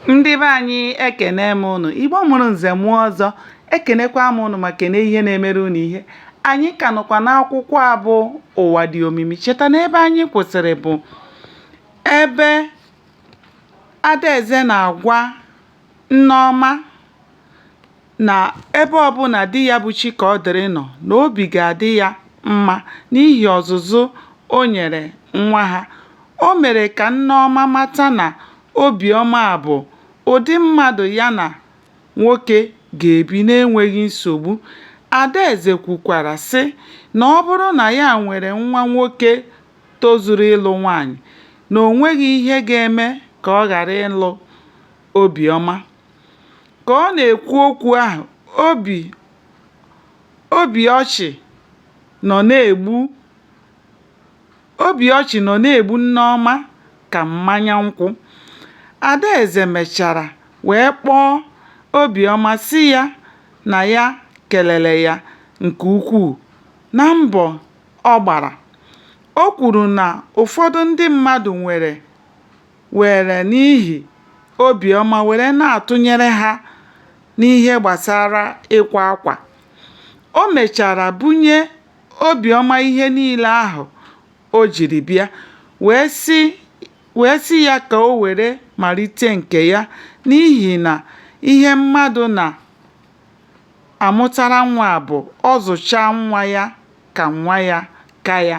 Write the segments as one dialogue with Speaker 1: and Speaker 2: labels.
Speaker 1: ndị be anyị ekene m unu igbo mụrụ nze mụọ ọzọ ekenekwa m unu ma kene ihe na-emere unu ihe anyị ka nọkwa n'akwụkwọ a bụ ụwa dị omimi cheta na ebe anyị kwụsịrị bụ ebe adaeze na-agwa nneọma na ebe ọbụla di ya bụ Chikaọdịrị nọ na obi ga-adị ya mma n'ihi ọzụzụ o nyere nwa ha. O mere ka Nneọma mata na Obiọma bụ ụdị mmadụ ya na nwoke ga-ebi n'enweghị nsogbu. Adaeze kwukwara sị na ọ bụrụ na ya nwere nwa nwoke tozuru ịlụ nwaanyị, na o nweghị ihe ga-eme ka ọ ghara ịlụ Obiọma. Ka ọ na-ekwu okwu ahụ, obi ọchị nọ na-egbu Nneọma ka mmanya nkwụ. Adaeze mechara wee kpọọ Obiọma sị ya na ya kelere ya nke ukwuu na mbọ ọ gbara. O kwuru na ụfọdụ ndị mmadụ nwere were n'ihi Obiọma were na-atụnyere ha n'ihe gbasara ịkwa akwa. O mechara bunye Obiọma ihe niile ahụ o jiri bịa wee sị ya ka o were malite nke ya n'ihi na ihe mmadụ na-amụtara nwa bụ ọ zụchaa nwa ya ka nwa ya ka ya.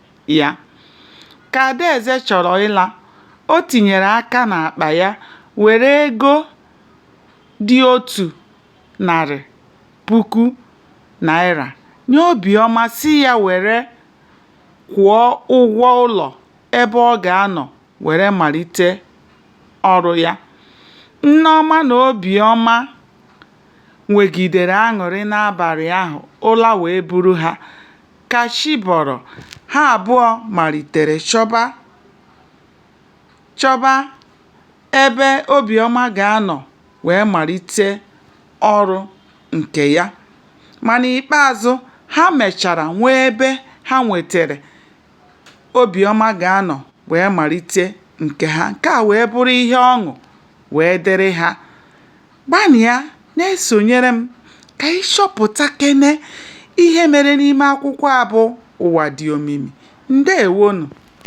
Speaker 1: ya. Ka Adaeze chọrọ ịla, o tinyere aka n'akpa ya were ego dị otu narị puku naịra nye Obiọma sị ya were kwụọ ụgwọ ụlọ ebe ọ ga-anọ were malite ọrụ ya. Nneọma na Obiọma nwegidere aṅụrị n'abalị ahụ, ụra wee buru ha. Ka chi bọrọ, ha abụọ malitere chọba chọba ebe Obiọma ga-anọ wee malite ọrụ nke ya. Ma n'ikpeazụ, ha mechara nwee ebe ha nwetere Obiọma ga-anọ wee malite nke ha. Nke a wee bụrụ ihe ọṅụ wee dịrị ha. Gbanịa na-esonyere m ka anyị chọpụtakene ihe mere n'ime akwụkwọ a bụ Ụwa Dị Omimi. Ndeewonụ.